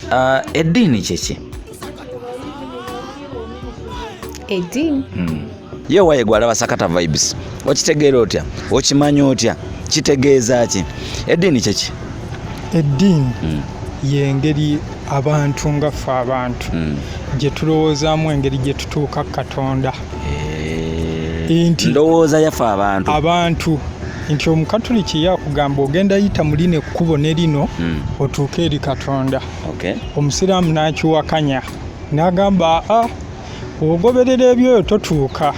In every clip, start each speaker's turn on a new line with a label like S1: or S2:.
S1: Uh, eddiini kyeki
S2: eddiini hmm.
S1: ye waye gwalaba sakata vibes okitegeera otya okimanya otya kitegeeza ki eddiini kyeki eddiini
S3: hmm. yengeri abantu nga ffe abantu hmm. gye tulowoozaamu engeri gye tutuuka katonda eh,
S1: ndowooza yafe abantu abantu
S3: nti omukatuliki yakugamba ogenda yita mu lino ekkubo ne lino hmm. otuuke eri katonda omusiraamu n'akiwakanya n'agamba a ah, ogoberera ebyoyo totuuka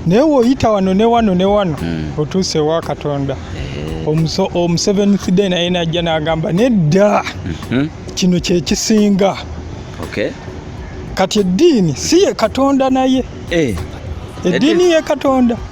S3: naye woyita wano ne wano ne wano hmm. otuuse ewa katonda eh. omuseventh day naye najja n'agamba nedda mhm. kino kyekisinga kati eddiini si ye katonda naye eh. eddiini ye katonda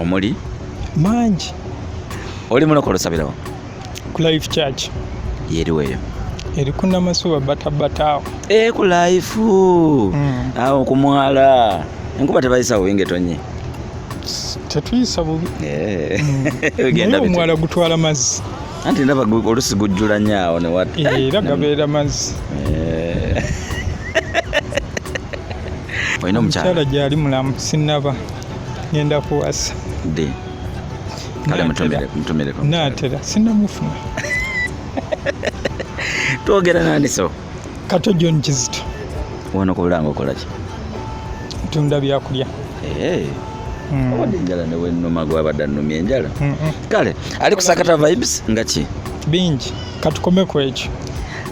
S3: omuli
S1: mangi oli mulokole osabirawo ku life
S3: church yeriwo eyo
S1: eri ku
S3: namasuba batabataawo e ku life
S1: mm. awo ku mwala enkuba tebayisawo wingetonye
S3: tetuyisa bubi
S1: eh. mm. omwala gutwala
S3: mazzi anti ndaba
S1: olusi gujjula nyaawo newat eh, era gabeera
S3: mazzi eh.
S1: olina omukyala gyali mulamu
S3: sinaba ngenda kuwasa ddi
S1: kale mutumireko natera
S3: sinamufuna
S1: twogera nani so kato john
S3: kizito wano
S1: kubulanga okolaki tunda
S3: byakulya eh. hmm.
S1: obadde enjala newenuma gwabadde annumya enjala kale ali kusakata vibes nga ki bingi
S3: katukome ku ekyo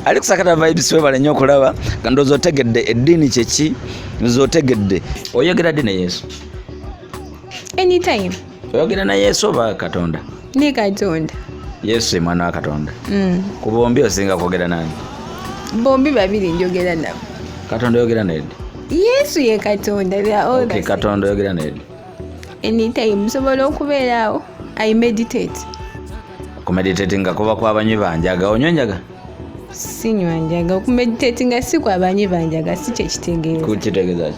S3: ali kusakata
S1: vibes webale nnyo okulaba nga ndowooza otegedde eddiini kyeki nze otegedde oyogera ddi ne yesu anytime
S2: oyogera na yesu oba
S1: katonda ne katonda
S2: yesu emwana
S1: wa katonda mm. ku bombi osinga kwogera nani bombi
S2: babiri njogera nabo katonda oyogera
S1: nedi yesu ye
S2: katonda okay, katonda oyogera nedi
S1: anytime
S2: nsobola okubeeraawo i meditate
S1: kumeditatinga kuba kwabanywi banjaga onyo njaga sinywa
S2: njaga okumeditatinga si kwabanyi banjaga si kyekitegeeza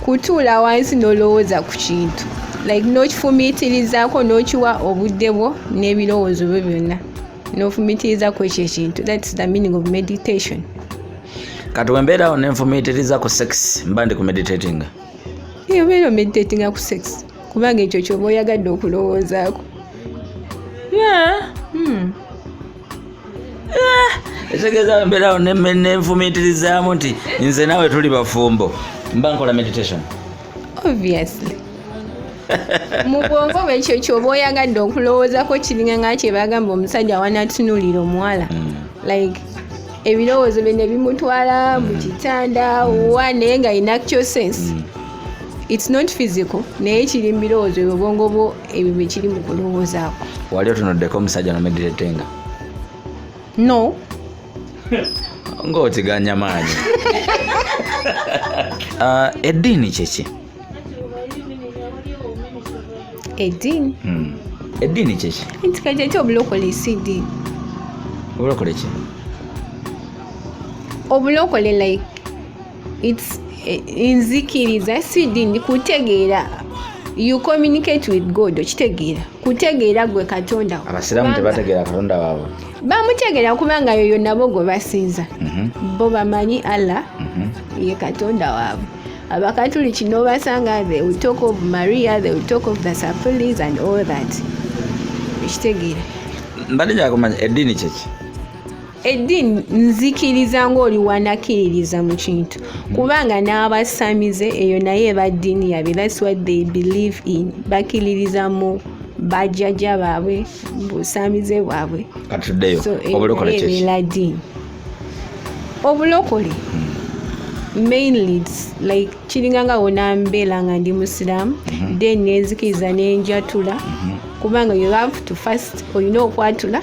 S2: kutuula wansi n'olowooza ku kintu like n'okifumiitirizaako n'okiwa obudde bwo n'ebirowoozo byo byonna n'ofumiitirizaako ekyo ekintu thats the meaning of meditation
S1: kati wembeerawo nenfumiitiriza ku sex mba ndi ku meditatinga eyo beera
S2: omeditatinga ku sex kubanga ekyo kyoba oyagadde okulowoozaako hmm.
S1: etegeeza mbeerawo nenfumiitirizaamu nti nze naawe tuli bafumbo mba nkola meditation obviously
S2: mu bwongo bwe ekyo kyoba oyagadde okulowoozako kiringa nga kyebagamba omusajja wanatunulira omuwala hmm. like ebirowoozo bye ne bimutwala mu kitanda wa naye nga inactio sense mm. it's not physical naye kiri mubirowoozo ebyo obwongo bwo ebyo byekiri mu kulowoozaako wali otunuddeko
S1: omusajja nomegiretenga
S2: no
S1: ngaotiganya maanyi ah, eddiini kyeki eddiini
S2: hmm.
S1: eddiini kyeki entika kyeki obulokole
S2: si eddiini obulokole
S1: ki
S2: obulokole like it's eh, nzikiriza sidi ndi kutegeera you communicate with god okitegeera kutegeera gwe katonda abasiraamu tebategeera
S1: katonda waabwe bamutegeera
S2: kubanga yoyo nabo gwe basinza mhm. bo bamanyi allah mhm. ye katonda waabwe abakatuliki nobasanga the will talk of maria the will talk of the sapulis and all that okitegeera mbadde
S1: gyakumanya eddiini kyeki eddiini
S2: nzikiriza ng'oli wanakiririza mu kintu kubanga n'abasamize eyo naye eba ddiini yabwe thats what they believe in bakiririza mu bajjajja baabwe busamize bwabwe katuddeyo
S1: obulokole ebeera ddiini obulokole
S2: hmm. mainly like kiringa nga wona mbeera nga ndi musiraamu hmm. then nenzikiriza nenjatula hmm. kubanga you have to first olina okwatula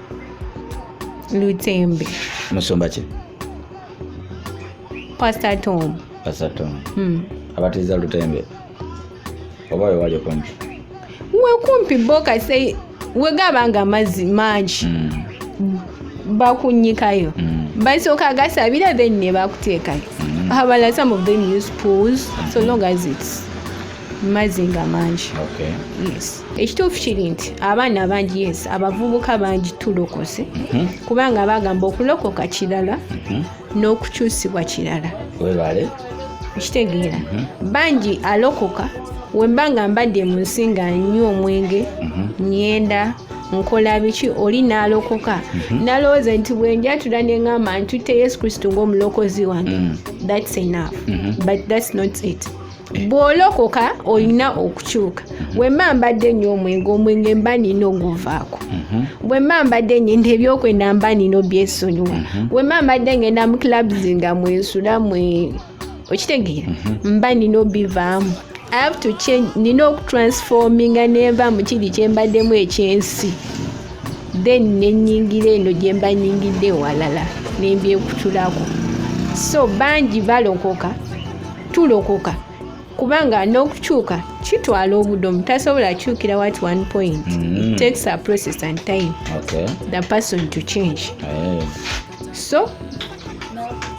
S2: lutembe musumba ki pastor tom pastor tom hmm.
S1: abatiza lutembe oba wewali okumpi wekumpi
S2: bo kase wegaba nga amazzi mangi mm. bakunyikayo mm. basooka gasabira then ne bakuteekayo mm. habala some of them use pools so mm-hmm. long as its mazzi nga mangi okay. yes ekituufu kiri nti abaana abangi yes abavubuka bangi tulokose mhm. kubanga bagamba okulokoka kirala mhm. n'okukyusibwa kirala webale
S1: okitegeera
S2: mhm. bangi alokoka wemba nga mbadde mu nsi nga nywa omwenge nyenda nkola biki oli n'alokoka nalowooza nti bwenjatula neŋamba ntutte yesu kristo ngaomulokozi wange thats enough but thats not it bwolokoka olina okukyuka wemma mbadde nnyo omwenge omwenge mba nina oguvaako mhm. wemma mbadde ngenda ebyokwenda mba nina obyesonyiwa mhm. wemma mbadde ngenda mu clubs nga mwensula mwe okitegeera mhm. mba nina obivaamu i have to change nina okutransforminga nenva mu kiri kyembaddemu ekyensi then nenyingira eno gyemba nyingidde ewalala nembyekutulako so bangi balokoka tulokoka kubanga n'okukyuka kitwala obudomu tasobola akyukira wat one point mm. takes a process and time okay. the person to change hey. Eh. so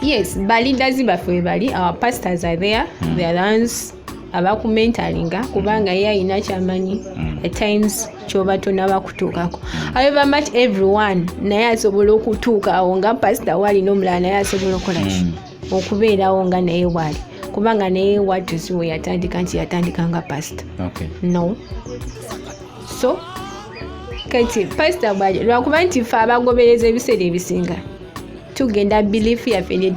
S2: yes baleaders baffe webali our pastors are there mm. the ones abakumentalinga kubanga ye alina kyamanyi mm. at times kyoba tonaba kutuukako however much everyone naye asobola okutuuka awo nga pasita waalina omulala naye asobola okola ki mm. okubeerawo nga naye waali kubanga naye watu si we yatandika nti yatandika nga pasita okay. no so kati pasita bwaje lwakuba nti fe abagobereza ebiseera ebisinga tugenda bilifu yaffe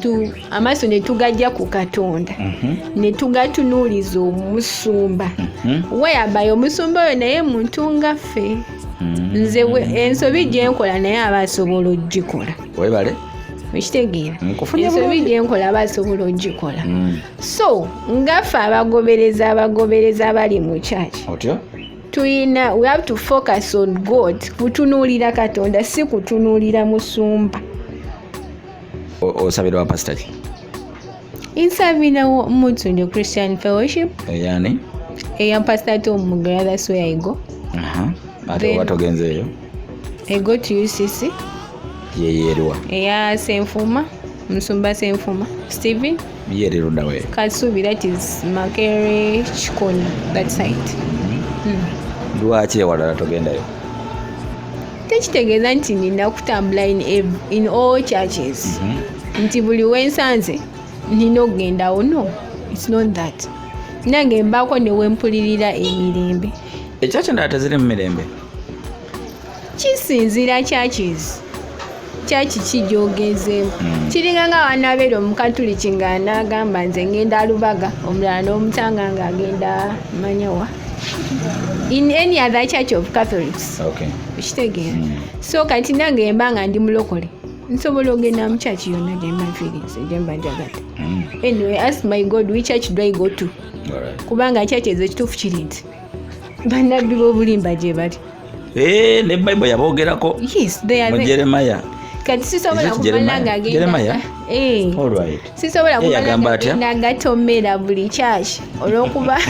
S2: amaaso netugajja ku katonda mhm. netugatunuuliza omusumba mhm. weyabayo omusumba oyo naye muntu nga ffe mhm. nze ensobi gyenkola naye aba asobola okugikola webale
S1: okitegeera
S2: ensobi gyenkola aba asobola ogikola mm. so ngaffe abagobereza abagobereza abali mu kyaki
S1: tuyina we
S2: have to focus on god kutunuulira katonda si kutunuulira musumba
S1: osabira wa pasitaki insabira
S2: omuntu nyo christian fellowship eyani
S1: eya pastor
S2: to mugera that's where i go aha ate
S1: oba togenze eyo i go
S2: to ucc yeyerwa
S1: eya
S2: senfuma musumba senfuma steven yererunda we
S1: kasubi that is
S2: makere chikoni that side mm.
S1: lwaki ewalala togendayo tekitegeeza
S2: nti nina kutambula in, in all churches mm -hmm. nti buli wensanze nina okugendawo no its not that nange mbaako newempulirira emirembe ekyaki ndala
S1: teziri mu mirembe kisinzira
S2: churches kyaki kijogezeemu hmm. kiringa nga wanabeera omukatuliki nga naagamba nze ngenda lubaga omulala n'omutanga nga agenda manyawa in any other church of catholics okay. okitegeera mm. so kati nange yemba nga ndi mulokole nsobola ogenda mu church yonna gyemba nfiirinze gyemba njagala mm. anyway ask my god we church do i go to right. kubanga church ezo ekituufu kiri nti bannabbi b'obulimba gye bali Eh, ne
S1: bible yabogerako mu
S2: jeremaya kati
S1: sisobola
S2: kumala nga agendaagamba eh. eh, atomera buli church olwokuba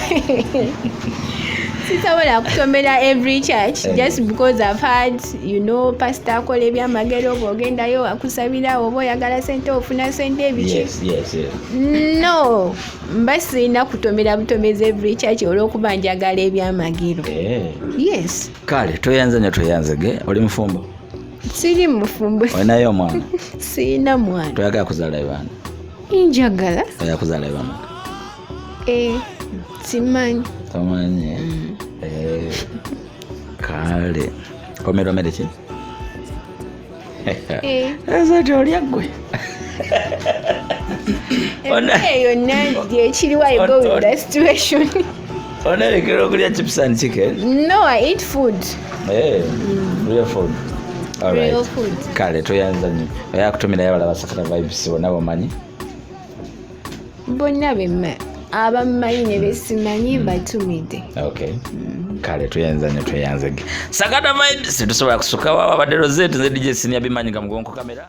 S2: sisobola kutomera every church eh. just because i've had you know pastor akola ebyamagero oba ogendayo akusabira oba oyagala sente ofuna sente ebiki no mba sirina kutomera butomezi every church olwokuba njagala ebyamagiro eh. yes kale tweyanze
S1: nyo tweyanzege oli mufumbo siri
S2: mufumbo olinayo omwana
S1: sirina mwana
S2: toyagala kuzala ebana
S1: njagala
S2: oyagala kuzala ebana
S1: eh,
S2: simanyi tomanyi mm.
S1: eh, kale omeromere ki ezo tolya gwe eyo
S2: nanti ekiriwa i go with the situation onerekera
S1: okulya chips and chicken no i eat food
S2: hey,
S1: mm. real food Alright. kale
S2: toyanza nyo
S1: oyakutumira yabala basakata vibes bona bamanyi
S2: bonna bemma abammanyi ne besimanyi batumidde okay
S1: mm. kale tweyanza nyo tweyanzege sagata vibes tetusobola kusukawo ababadde rozet nze dj siniya bimanyi nga mugonko kamera